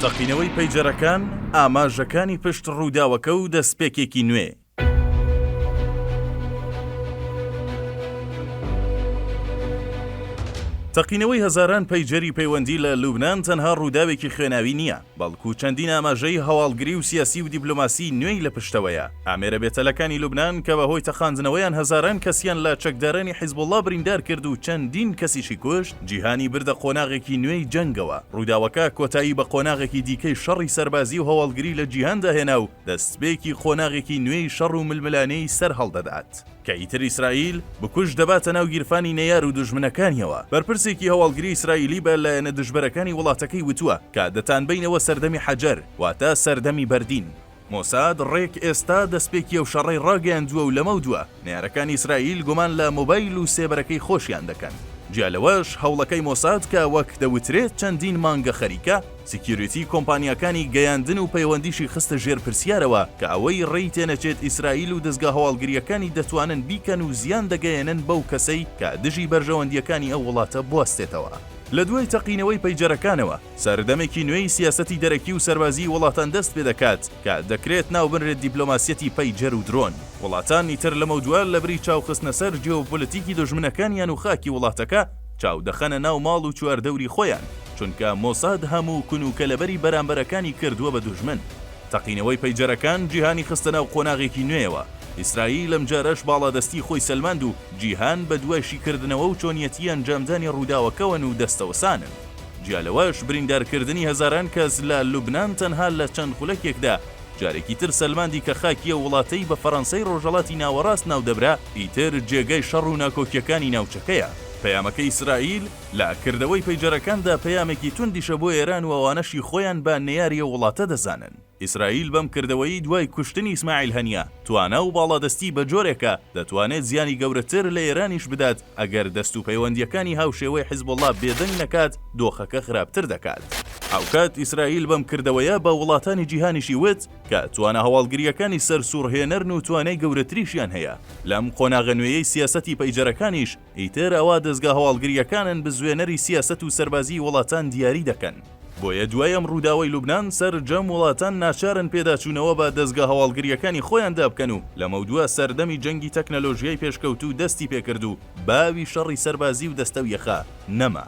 تەقینەوەی پەیجەرەکان، ئاماژەکانی پشت ڕووداوەکە و دەستپێکێکی نوێ. تەقینەوەی هەزاران پەیجەری پەیوەندی لە لوبنان تەنها ڕووداوێکی خوێناوی نییە، بەڵکو چەندین ئاماژەی هەواڵگری و سیاسی و دیبلۆماسی نوێی لە پشتەوەیە. ئامێرە بێتەلەکانی لوبنان کە بەهۆی تەقاندنەوەیان هەزاران کەسیان لە چەکدارانی حیزبوڵڵا بریندار کرد و چەندین کەسیشی کوشت، جیهانی بردە قۆناغێکی نوێی جەنگەوە، ڕووداوەکە کۆتایی بە قۆناغێکی دیکەی شەڕی سەربازی و هەواڵگری لە جیهاندا هێنا و دەستپێکی قۆناغێکی نوێی شەڕ و ململانێی سەر هەڵدەدات، کە ئیتر ئیسرائیل بکوژ دەباتە ناو گیرفانی نەیار و دوژمنەکانیەوە. بەرپرسێکی هەواڵگری ئیسرائیلی بە لایەنە دژبەرەکانی وڵاتەکەی وتووە کە دەتانبەینەوە سەردەمی حەجەر، واتە سەردەمی بەردین. مۆساد ڕێک ئێستا دەستپێکی ئەو شەڕەی ڕاگەیاندووە و لەمەودوا نەیارەکانی ئیسرائیل گومان لە مۆبایل و سێبەرەکەی خۆشیان دەکەن. جیا لەوەش هەوڵەکەی مۆساد کە وەک دەوترێت چەندین مانگە خەریکە، سیکیۆریتی کۆمپانیاکانی گەیاندن و پەیوەندیشی خستە ژێر پرسیارەوە کە ئەوەی ڕێی تێنەچێت ئیسرائیل و دەزگا هەواڵگرییەکانی دەتوانن بیکەن و زیان دەگەیەنن بەو کەسەی کە دژی بەرژەوەندییەکانی ئەو وڵاتە بوەستێتەوە. لە دوای تەقینەوەی پەیجەرەکانەوە، سەردەمێکی نوێی سیاسەتی دەرەکی و سەربازیی وڵاتان دەست پێ دەکات کە دەکرێت ناو بنرێت دیپلۆماسیەتی پەیجەر و درۆن. وڵاتانی تر لەمەودوا لە بری چاو خستنە سەر جیۆپۆلتیکی دوژمنەکانیان و خاکی وڵاتەکە، چاو دەخەنە ناو ماڵ و چواردەوری خۆیان، چونکە مۆساد هەموو کون و کەلەبەری بەرامبەرەکانی کردووە بە دوژمن. تەقینەوەی پەیجەرەکان جیهانی خستە ناو قۆناغێکی نوێیەوە، ئیسرائیل ئەمجارەش باڵادەستیی خۆی سەلماند و جیهان بە دوای شیکردنەوە و چۆنیەتیی ئەنجامدانی ڕووداوەکەوەن و دەستەوەسانن. جیا لەوەش بریندارکردنی هەزاران کەس لە لوبنان تەنها لە چەند خولەکێکدا جارێکی تر سەلماندی کە خاکی ئەو وڵاتەی بە فەرەنسای ڕۆژهەڵاتی ناوەڕاست ناو دەبرا ئیتر جێگای شەڕ و ناکۆکیەکانی ناوچەکەیە. پەیامەکەی ئیسرائیل لە کردەوەی پەیجەرەکاندا پەیامێکی توندیشە بۆ ئێران و ئەوانەشی خۆیان بە نەیاری ئەو وڵاتە دەزانن. ئیسرائیل بەم کردەوەی دوای کوشتنی ئیسماعیل هەنیە، توانا و باڵادەستی بە جۆرێکە دەتوانێت زیانی گەورەتر لە ئێرانیش بدات، ئەگەر دەست و پەیوەندییەکانی هاوشێوەی حزبوڵڵا بێدەنگ نەکات، دۆخەکە خراپتر دەکات. هاوکات ئیسرائیل بەم کردەوەیە بە وڵاتانی جیهانیشی وت کە توانا هەواڵگرییەکانی سەرسووڕهێنەرن و توانای گەورەتریشیان هەیە. لەم قۆناغە نوێیەی سیاسەتی پەیجەرەکانیش، ئیتر ئەوە دەزگا هەواڵگرییەکانن بزوێنەری سیاسەت و سەربازیی وڵاتان دیاری دەکەن. بۆیە دوای ئەم ڕووداوەی لوبنان سەرجەم وڵاتان ناچارن پێداچوونەوە بە دەزگا هەواڵگرییەکانی خۆیاندا بکەن و لەمەودوا سەردەمی جەنگی تەکنەلۆژیای پێشکەوتوو دەستی پێ کرد و باوی شەڕی سەربازی و دەستە و یەخە نەما.